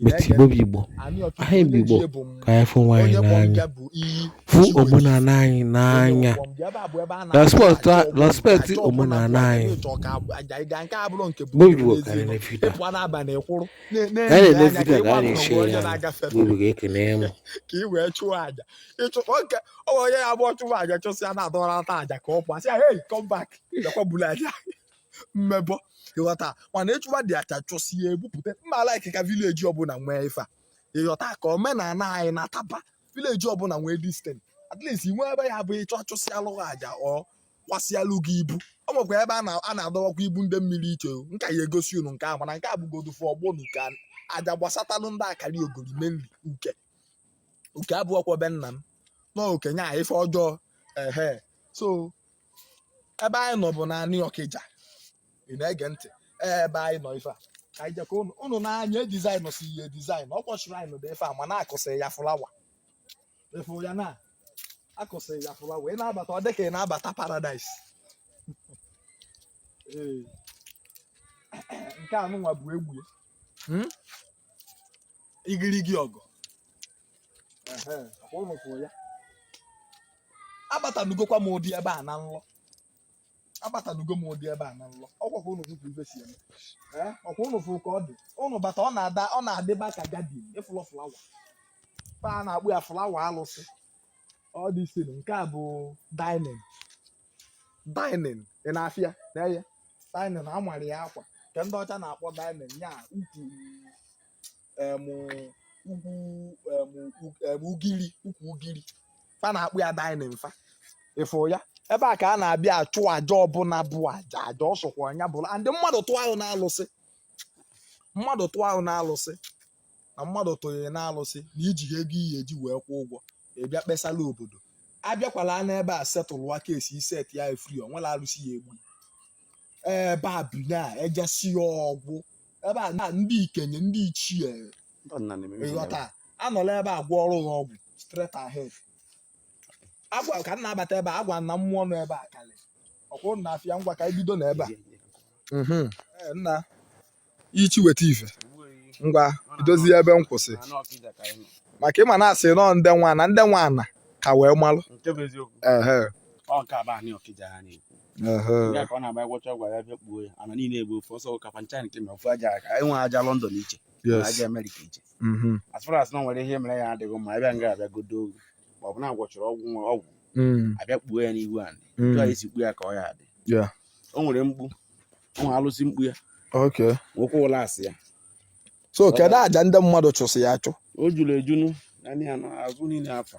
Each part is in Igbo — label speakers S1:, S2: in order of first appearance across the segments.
S1: but Igbo bụ Igbo anyị bụ Igbo ka anyị fụ onwe anyị n'anya fụ omenala anyị n'anya respect omenala anyị Igbo Igbo karịrị na fita ka anyị na-ele fita ka a na-eche ya Igbo ga-ekene ya mụ ka ị wee
S2: chụọ aja ịchụkwa nke onye abụọ chụwa aja chụsịa na-adọrọta aja ka ọ pụọ sị ya hey come back bịakwa bulu aja mmebọ ịghọta mana ịchụwa the aja chụsịa ebupụta mma like ka village ọbụla nwee ife a ịghọta ka omenala anyị na-ataba village ọbụla nwee disten at least inwe ebe ya bụ ịchụ achụsịalụ gị aja ọ kwasịalụ gị ibu ọ nwekwa ebe a na-adọwakwa ibu ndị mmiri iche m ka ya-egosi unu nke ahụ mana nke a bụgodu fụ ọgbọ na uke aja gbasatalụ ndị akaraogori menri uke uke abụọkwa be nna m na okenye a ife ọjọọ ehe so ebe anyị nọ bụ n'anị Ọkịja ị na-ege ntị ebe anyị nọ ife a ka anyị jekọ ụnụ ụnụ nee anya design e si e design Ọkịja shrine ụdị ife a mana akụsị ya flower ị fụ ya na akụsị ya flower ị na-abata ọ dị ka ị na-abata paradise ee nke a nụnwa bụ egwu ya. Hmm? igirigi ọgụ abatanugokwa m ụdị ebe a na nlọ abatanugo m ụdị ebe a na nlọ ọkwa ka ụnụ fụ ife si eme ọkwa ụnụ fụ ka ọ dị ụnụ bata ọ na-ada ọ na-adịba ka garden ị fụlụ flower fa a na-akpọ ya flower alụsị ọ dị isi nke a bụ dining dining ị na-afụ ya na ya dining a mara ya akwa nke ndị ọcha na-akpọ dining ya ukwu ugiri ukwu ugiri fa na-akpọ ya dining fa ị fụ ya ebe a ka a na-abịa achụ aja ọbụla bụ aja aja ọ sọkwa onye ọbụla and mmadụ tụọ ahụ n'alụsị mmadụ tụọ ahụ n'alụsị na mmadụ tụnyere n'alụsị na e ji ego ihe e ji wee kwụọ ụgwọ ịbịa kpesala obodo abịakwala n'ebe a setụlụ ya ka e si set ya free o nwerọ alụsị ya-egbu ee babina ejesi ya ọgwụ ebe a na ndị ikenye ndị ichie Ndị ọdịnala na-eme ihe ịghọta ọdịnala. anọla ebe a gwọ ọrụ ha ọgwụ straight ahead agwa ka m na-abata ebe a agwa na mmụọ nọ ebe a kalị ọkwụ na afịa ngwa ka anyị bido na ebe a Mhm. Ee, nna ichie weta ife ngwa i dozie ebe m kwụsị Anị Ọkịja ka anyị nọ. maka ịma na asị na ọ ndị nwe ana ndị nwe ana ka wee malụ Nke bụ eziokwu. ehe Ọ nke a bụ anị Ọkịja ha na-ekwu. ya ka ọ na-agba gwọcha ọgwụ ya
S3: bịa kpuo ya ana niile bụ ofu ọsọ ka pancha nke ma ofu aja aka enwe aja London iche aja Amerịka iche mm-hmm. as far as na nwere ihe mere ya adịghị mma abịa nga abịa godo ogu ma ọ bụ na agwọchara ọgwụ nwa ọgwụ mm. abịa kpuo ya n'ihu anị mm. jụọ esi kpuo ya ka ọ ya adị o nwere mkpu o nwere alụsị mkpu ya nwekwa Ụlasị ya so kedu
S2: aja ndị mmadụ chụsị ya achụ o juru ejunu
S3: naanị ya na azụ niile afa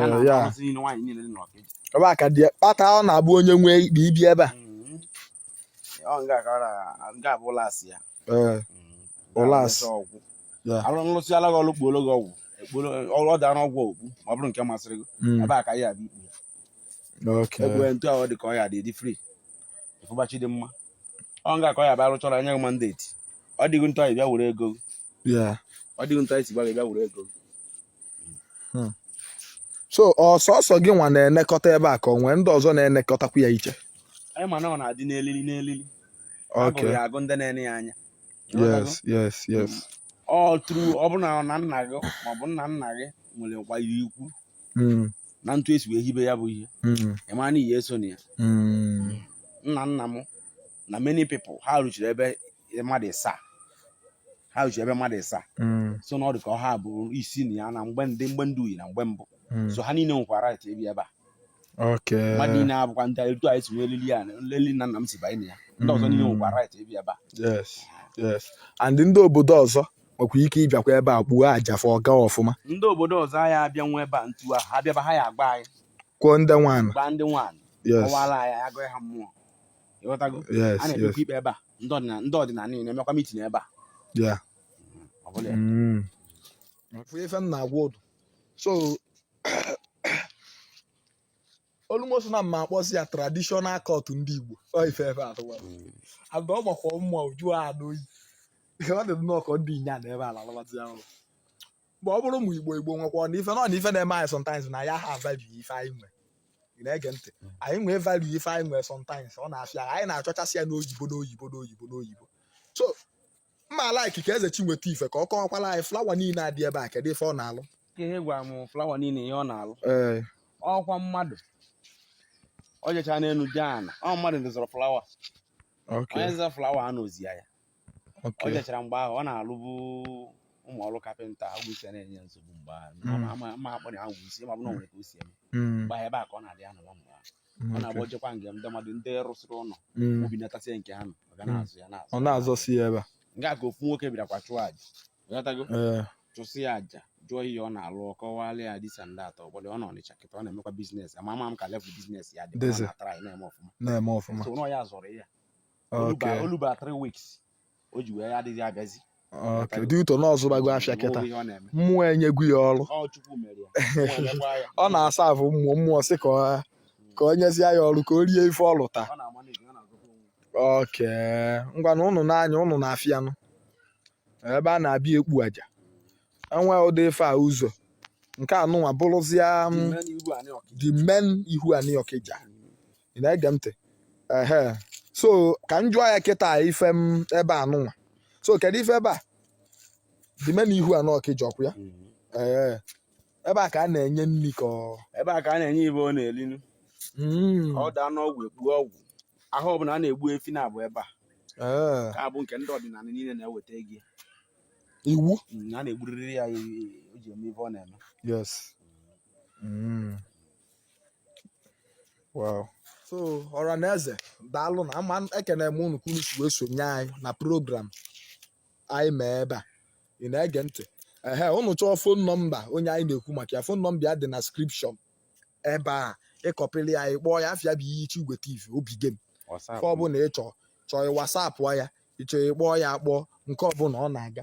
S3: ya na ya arụsị niile nwaanyị niile dị n'Ọkịja ebe a ka dị
S2: kpata ọ na-abụ onye nwe ikpe ibi ebe a ọ nga ka ọ na
S3: nga bụ Ụlasị ya Ee,
S2: Ụlasị. Ụlọ ọgwụ Ya. arụ
S3: nlụsị ala gị ọlụ kpuolo gị ọgwụ ekpuolo ọrụ ọ dị anụ ọgwụ okpu ma ọ bụrụ nke masịrị gị mm, ebe a ka ya dị ikpu ya okay. egwu ntu ahụ dị ka ọ ya dị dị free ịfụbachi dị mma ọ nga ka ọ ya bụ arụchọrọ anya gị mandeti ọ dịghị ntụ ị bịa were ego gị. Yeah. ọ dịghị ntụ isi gbaghị bịa were ego gị. hmm.
S2: so ọ sọsọ gịnwa na-enekọta ebe a ka ọ nwee ndị ọzọ na-enekọtakwu ya iche anyị ma na ọ na-adị
S3: n'elili n'elili agụrụ ya
S2: agụ ndị na-ene ya
S3: anya yes yes
S2: yes hmm.
S3: ọ tụrụ ọ bụ na na nna gị maọbụ nna nna gị nwere nkwanye ikwu hmm. na ntụ esi wee hibe ya bụ ihe ị ma na ihe eso na ya nna nna m na many people ha rụchiri ebe mmadụ ịsaa ha ji ebe mmadụ ịsaa mm. so na ọ dị ka ọ ha bụ isi na ya na mgbe ndị mgbe ndị uyi na mgbe mbụ mm. so ha niile nwekwara right ibi ebe a mmadụ niile abụkwa ndị etu anyị si nwee elili ya n'elili nna nna m si banye na ya ndị ọzọ niile nwekwa mm. right ibi ebe a
S2: and ndị obodo ọzọ nwekwa ike ịbịakwa ebe a kpuo aja fọ ọga ọfụma ndị obodo ọzọ
S3: anyị abịa nwe ebe a ntu ahụ ha bịaba ha ya agba anyị kwuo ndị nwaanyị
S2: gbaa ndị nwaanyị
S3: kọwara anyị agụghị ha mmụọ ịghọtago a na-ekpekwa ikpe ebe a ndị ọdịna- ndị ọdịnala niile na-emekwa mitin ebe a ya ọ bụla
S2: ya. Mm. Fụ ife m na-agwa unu so olumoso na mma akpọzi ya traditional court ndị igbo ọ ife efe atụwa ada ọ makwa mma ọ jụọ oyi ọ dị nnọọ ka m dinie na ebe a lalụbazie ụla mgbe ọ bụrụ ụmụ igbo igbo nwekwa na ife nọ na ife na-eme anyị sometimes na anyị aha value ife anyị nwe ị na-ege ntị anyị nwee value ife anyị nwee sometimes ọ na-afịa anyị na-achọchasị ya n'oyibo n'oyibo n'oyibo n'oyibo so mma like ka eze chinweta ife ka ọ kọwakwala anyị flawa niile adị ebe a kedu ife ọ na-alụ ihe gwara
S3: m flawa niile ihe ọ na-alụ ọkwa mmadụ ọ jechaa n'elu jee ana ọ mmadụ dozọrọ flawa onye zọrọ flawa a na-ozi ya ọ Okay. jechara mgbe ahụ ọ na-alụbu ụmụ ọrụ kapịnta agwụ isi a na-enye nsogbu mgbe ahụ Mm. Ama- ama- ama akpọ na agwụ isi ma ọ bụ na o nwere ka o si eme Mm, mgbe ahụ ebe a ka ọ na-adị anọba mgbe ahụ ọ okay. na-agba ojekwa nge ndị mmadụ ndị rụsịrị ụlọ Mm. obi natasie nke ha nọ ọ ga Mm. na-azụ ya na-azụ Ọ na-azọsi ya ebe
S2: a. nke a ka ofu
S3: nwoke bịarakwa chụọ aja ghọtago Ee. chụsị ya aja jụọ ihe ọ na-alụ ọ kọwalị ya this and that ụbọdụ ọ nọ Ọnịcha kịta ọ na-emekwa biznes ama ama m ka level biznes ya dị Dịzị. na-atara ya na-eme ọfụma na-eme ọfụma so n'ọ ya zọrọ ya Okay. o luba o luba three weeks o ji wee adịghị abịazi Okay. Due
S2: to na ọ zụbago afịa kịta. Onweghị ihe ọ na-eme Mmụọ enyego ya ọrụ. ọ chukwu mere ya Ọ na-emekwa ya. Ọ na-aserve mmụọ mmụọ sị ka ọ ka o nyezie ya ọrụ ka o rie ife ọ lụta. ọ na-ama n'ezi ọ na-agụkwa onwe Okay. Ngwanụ ụnụ n'anya ụnụ na-afụ ya nụ. Ebe a na-abịa ekpu aja. E nwee ụdị ife a ụzọ. Nke a nụnwa bụrụzịa m, the main ihu anị Ọkịja. ị na-ege ntị ehe so ka m jụọ ya kịta ife m ebe a nụnwa so kedu ife ebe a the main ihu anị Ọkịja ọkwa ya ee ebe a ka a na-enye nri ka ọ ebe a ka a na-enye
S3: ife ọ na-eli nu Mm, ka ọ daa n'ọgwụ ekpuo ọgwụ ahụ ọbụla a na-egbu efi na-abụ ebe a ee, ka abụ nke ndị ọdịnala niile na-eweta ego ya. iwu
S2: Mm, a na-egburịrị
S3: ya ya- ya- o ji eme ife ọ na-eme yes
S2: Mm. so ọra na eze daalụ nụ ma ekene m unu ka unu si wee sonye anyị na program anyị mee ebe a ị na-ege ntị ehe unu chọọ fon nọmba onye anyị na-ekwu maka ya fon nọmba ya dị na description ebe a ị kọpịrị ya ị kpọọ ya afa ya bụ Ichie Igwe tv obi gem nke ọbụla ị chọọ chọọ wasapụ ya ị chọọ ịkpọ ya akpọọ nke ọbụla ọ na-aga